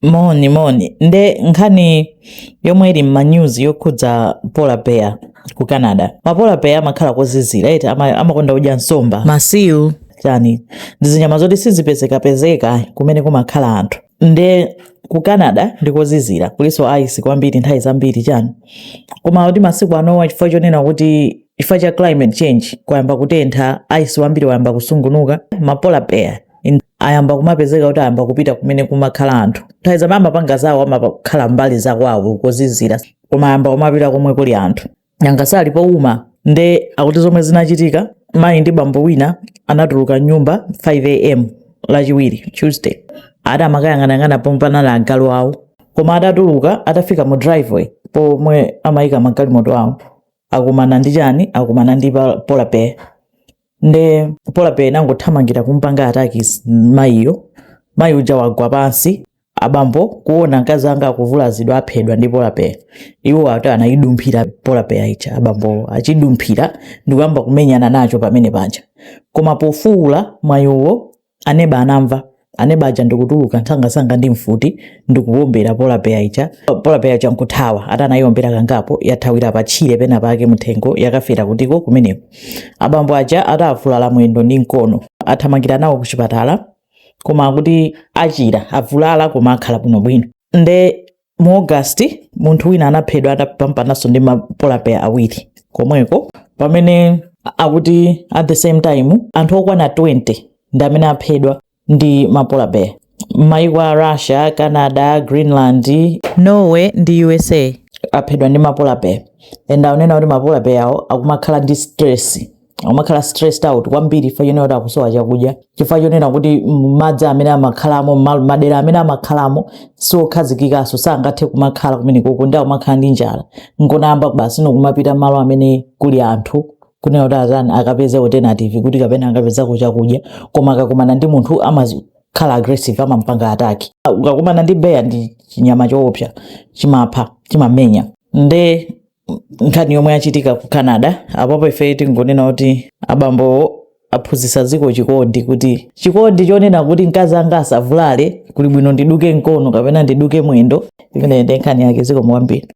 moni moni nde nkhani yomwe ili m'manews yokhudza polar bear ku canada mapolar bear amakhala kozizira eti ama- amakonda kudya nsomba masiu chani ndi zinyama zoti sizipezekapezeka kumene kumakhala anthu nde ku canada ndi kozizira kulinso ice kwambiri nthawi zambiri chani koma kuti masiku anowa chifukwa chonena kuti chifukwa cha climate change kwayamba kutentha ice wambiri wayamba kusungunuka mapolar bear in ayamba kumapezeka kuti ayamba kupita kumene kumakhala anthu nthawi zambiri amapanga zawo amakhala mbali zakwawo kozizira koma ayamba kumapita komwe kuli anthu nanga si ali pouma nde akuti zomwe zinachitika mayi ndi bambo wina anatuluka mnyumba 5 am lachiwiri tuesday ati amakayang'anayang'ana pomwe panali agalu awo koma atatuluka atafika mu driveway pomwe amayika magalimoto awo akumana ndi chani akumana ndi pa- polar bear nde polar bear inangothamangira kumpanga ataki mayiyo mayi uja wagwa pansi abambo kuona mkazi wanga akuvulazidwa aphedwa ndi polar bear iwo ati anayidumphira polar bear ija abambo achidumphira ndikuyamba kumenyana nacho pamene panja koma pofuwula mayiwo Aneba anamva. Aneba aja ndikutuluka msangamsanga ndi mfuti ndikuwombera polar bear ija. Polar bear ija nkuthawa. Ati anayiwombera kangapo yathawira pa tchire pena pake mthengo yakafera kutiko kumeneko. Abambo aja ati avulala mwendo ndi mkono. Athamangira nawo ku chipatala koma akuti achira avulala koma akhala bwinobwino. Nde mu august munthu wina anaphedwa atapambananso ndi mapolar bear awiri komweko pamene akuti at the same time anthu okwana 20 ndi amene aphedwa ndi mapolar bear m'mayiko a russia canada greenland norway ndi usa aphedwa ndi mapolar bear and aunena kuti mapolar bear awo akumakhala ndi stress akumakhala stressed out kwambiri chifukwa chonena kuti akusowa chakudya chifukwa chonena kuti mm, madzi amene amakhalamo ma- madera amene amakhalamo siokhazikikanso sangathe kumakhala kumenekoko nde akumakhala ndi njala angoyamba basi nkumapita malo amene kuli anthu kunena kuti azani akapeze alternative kuti kapena akapezako chakudya koma akakumana ndi munthu amakhala aggressive amampanga ataki ukakumana ndi bear ndi chinyama choopsa chimapha chimamenya nde nkhani yomwe yachitika ku canada apapo ife tingonena kuti abambowo aphunzitsa dziko chikondi kuti chikondi chonena kuti mkazi wanga asavulale kuli bwino ndiduke mkono kapena ndiduke mwendo imeneyi nde nkhani yake zikomo kwambiri